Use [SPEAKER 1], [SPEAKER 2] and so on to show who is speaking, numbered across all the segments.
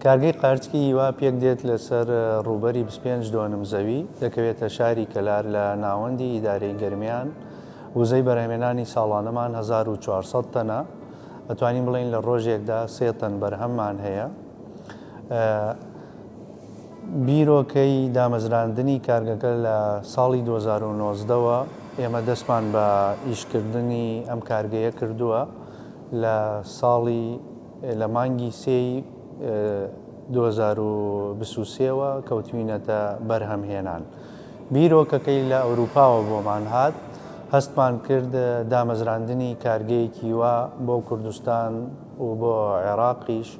[SPEAKER 1] کارگەی قارچکی هیوا پێک دێت لەسەر ڕووبەری 25 دۆنم زەوی دەکەوێتە شاری کەلار لە ناوەندی ئیدارەی گەرمیان وزەی بەرهەمێنانی ساڵانەمان 1400 تەنە ئەتوانین بڵین لە ڕۆژێکدا سێ تەن بەرهەممان هەیە بیرۆکەی دامەزراندنی کارگەکە لە ساڵی دوو هەزار و نۆزدە وە ئێمە دەستمان بە ئیشکردنی ئەم کارگەیە کردووە لە ساڵی لە مانگی سێی دوو هەزار و بیست و سێ وە کەوتوینەتە بەرهەم هێنان بیرۆکەکەی لە ئەوروپاوە بۆمان هات هەستمان کرد دامەزراندنی کارگەیەکی وا بۆ کوردستان و بۆ عێراقیش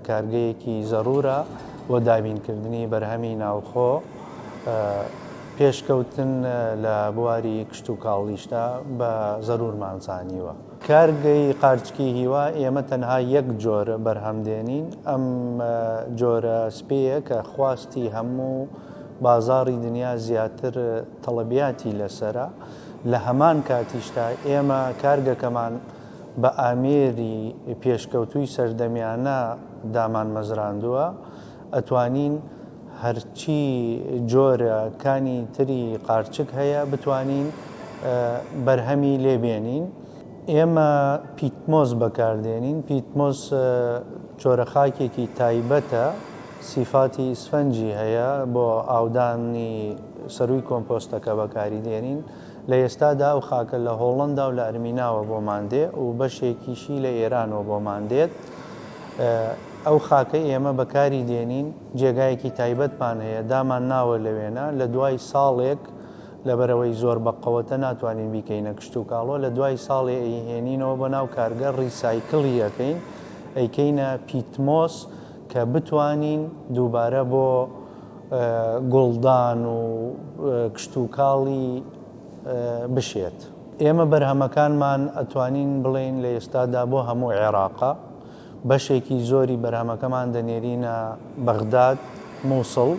[SPEAKER 1] کارگەیەکی زەرورە بۆ دابینکردنی بەرهەمی ناوخۆ، پێشکەوتن لە بواری کشتوکاڵیشدا بە زەرورمان زانیوە. کارگەی قارچکی هیوا ئێمە تەنها یەک جۆر بەرهەم دێنین، ئەم جۆرە سپێیە کە خواستی هەموو بازاڕی دنیا زیاتر تەڵەبیاتی لەسەرە، لە هەمان کاتیشدا ئێمە کارگەکەمان، بە ئامێری پێشکەوتووی سەردەمیانە دامانمەزراندووە، ئەتوانین هەرچی جۆرە کانی تری قارچک هەیە بتوانین بەرهەمی لێ بێنین، ئێمە پیتمۆس بەکاردێنین، پیتمۆس جۆرە خاکێکی تایبەتە سیفاتی ئیسفەنجی هەیە بۆ ئاودانی سەرووی کۆمپۆستەکە بەکاری دێنین. لە ئێستادا ئەو خاکە لە هۆڵەندا و لە ئەرمیناوە بۆمان دێ و بەشێکیشی لە ئێرانەوە بۆمان دێت. ئەو خاکەی ئێمە بەکاری دێنین، جێگایەکی تایبەتمان هەیە، دامان ناوە لەوێنە، لە دوای ساڵێک، لەبەرئەوەی زۆر بەقەوەتە ناتوانین بیکەینە کشتوکاڵۆ، لە دوای ساڵێ ئەیهێنینەوە بۆ ناو کارگە ڕیسایکڵی ئەکەین، ئەیکەینە پیتمۆس کە بتوانین دووبارە بۆ. گوڵدان و کشتوکاڵی بشێت. ئێمە بەرهەمەکانمان ئەتوانین بڵێین لە ئێستادا بۆ هەموو عێراقە، بەشێکی زۆری بەرهەمەکەمان دەنێرینە بەغداد، موسڵ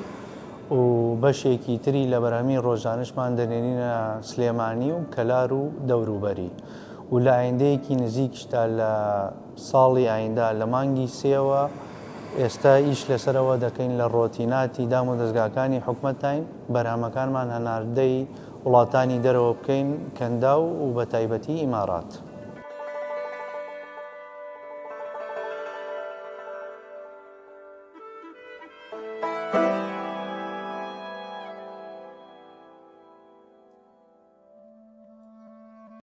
[SPEAKER 1] و بەشێکی تری لە بەرهەمی ڕۆژانەشمان دەنێرینە سلێمانی و کەلار و دەوروبەری و لە ئایندەیەکی نزیکیشدا لە ساڵی ئایندە لە مانگی سێوە، ئێستا ئیش لەسەر ئەوە دەکەین لە ڕۆتیناتی دامودەزگاکانی حکومەتداین، بەرهەمەکانمان هەناردەی وڵاتانی دەرەوە بکەین، کەنداو و بەتایبەتی ئیمارات.